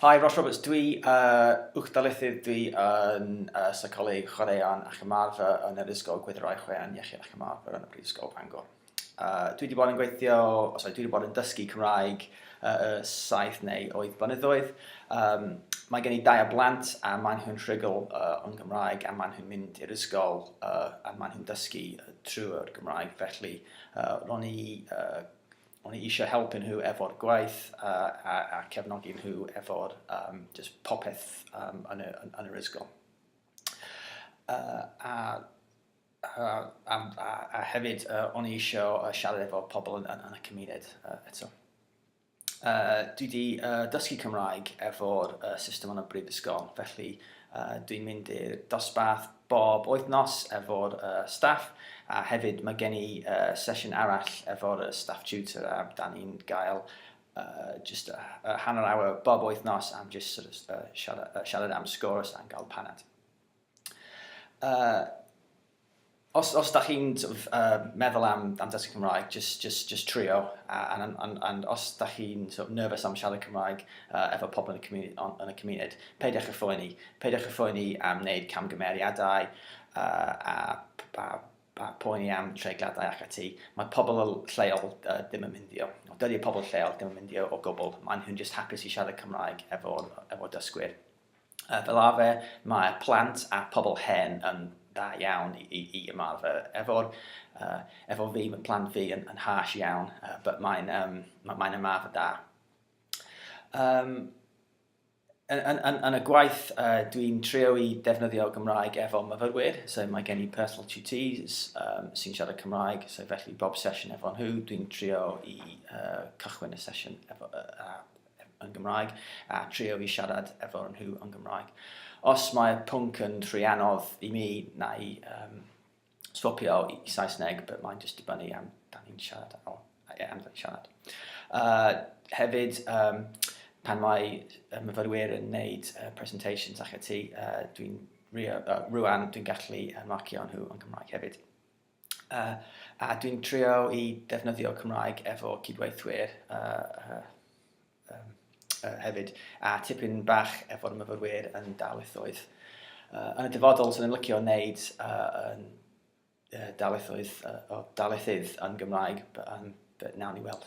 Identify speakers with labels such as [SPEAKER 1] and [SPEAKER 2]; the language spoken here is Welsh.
[SPEAKER 1] Hi, Ross Roberts dwi, uh, uwch darlithydd dwi yn uh, seicoleg chwaraeon ac ymarfer yn yr Ysgol Gwyddorau Chwaraeon Iechyd ac Ymarfer yn y Brifysgol Bangor. Uh, dwi wedi bod yn gweithio, oh, sorry, dwi wedi bod yn dysgu Cymraeg uh, saith neu oedd blynyddoedd. Um, mae gen i dau o blant a maen nhw'n rhygl uh, o'n Gymraeg a maen nhw'n mynd i'r ysgol uh, a maen nhw'n dysgu uh, trwy'r Gymraeg. Felly, uh, ro'n i uh, O'n i eisiau helpu nhw efo'r gwaith a, a, a cefnogi nhw efo'r um, just popeth um, yn, y, yn, yn yr ysgol. Uh, a a, a, a, a hefyd uh, o'n i eisiau uh, siarad efo pobl yn, yn, yn y cymuned uh, eto. Uh, dwi wedi uh, dysgu Cymraeg efo'r uh, system yn y brifysgol, felly Dwi'n mynd i'r dosbarth bob wythnos efo'r staff a hefyd mae gen i sesiwn arall efo'r staff tutor a dan ni'n gael jyst hanner awr bob wythnos am jyst sort of, siarad, siarad am sgwrs a'n gael paned. Os os dach chi'n sort of yy meddwl am am dysgu Cymraeg jyst jyst jyst trio a and and and and os dach chi'n sort of nervous am siarad Cymraeg yy efo pobl yn y comunu- on- yn y cymuned peidiwch â phoeni. Peidiwch â phoeni am wneud camgymeriadau yy a p- a p- a poeni am treigliadau ac ati. Mae pobl y l- lleol yy ddim yn myndio. Wel dydi pobl lleol ddim yn myndio o gwbl. Maen nhw'n jyst hapus i siarad Cymraeg efo efo dysgwyr. Yy fel arfer mae plant a pobl hen yn dda iawn i i i ymarfer efo'r yy efo fi ma' plant fi yn yn harsh iawn yy but mae'n yym ma' mae'n ymarfer da. Yym yn yn yn yn y gwaith yy dwi'n trio i ddefnyddio Gymraeg efo myfyrwyr so mae gen i personal tutees yym sy'n siarad Cymraeg so felly bob sesiwn efo nhw dwi'n trio i yy cychwyn y sesiwn efo yy a yn Gymraeg a trio i siarad efo nhw yn Gymraeg. Os mae pwnc yn rhy anodd i mi, na i um, swapio i, i Saesneg, but mae'n just dibynnu am da ni'n siarad ar ôl, am da ni'n siarad. Uh, hefyd, um, pan mae myfyrwyr yn wneud uh, presentations ac ati, uh, dwi'n rhywun dwi'n gallu marcio nhw yn Gymraeg hefyd. Uh, a dwi'n trio i defnyddio Cymraeg efo cydweithwyr uh, uh, um, uh, hefyd, a tipyn bach efo'r myfyrwyr yn darlithoedd. Uh, yn y dyfodol, sy'n ni'n licio wneud uh, yn uh, darlithoedd, uh, o darlithydd yn Gymraeg, but, um, but nawn ni weld.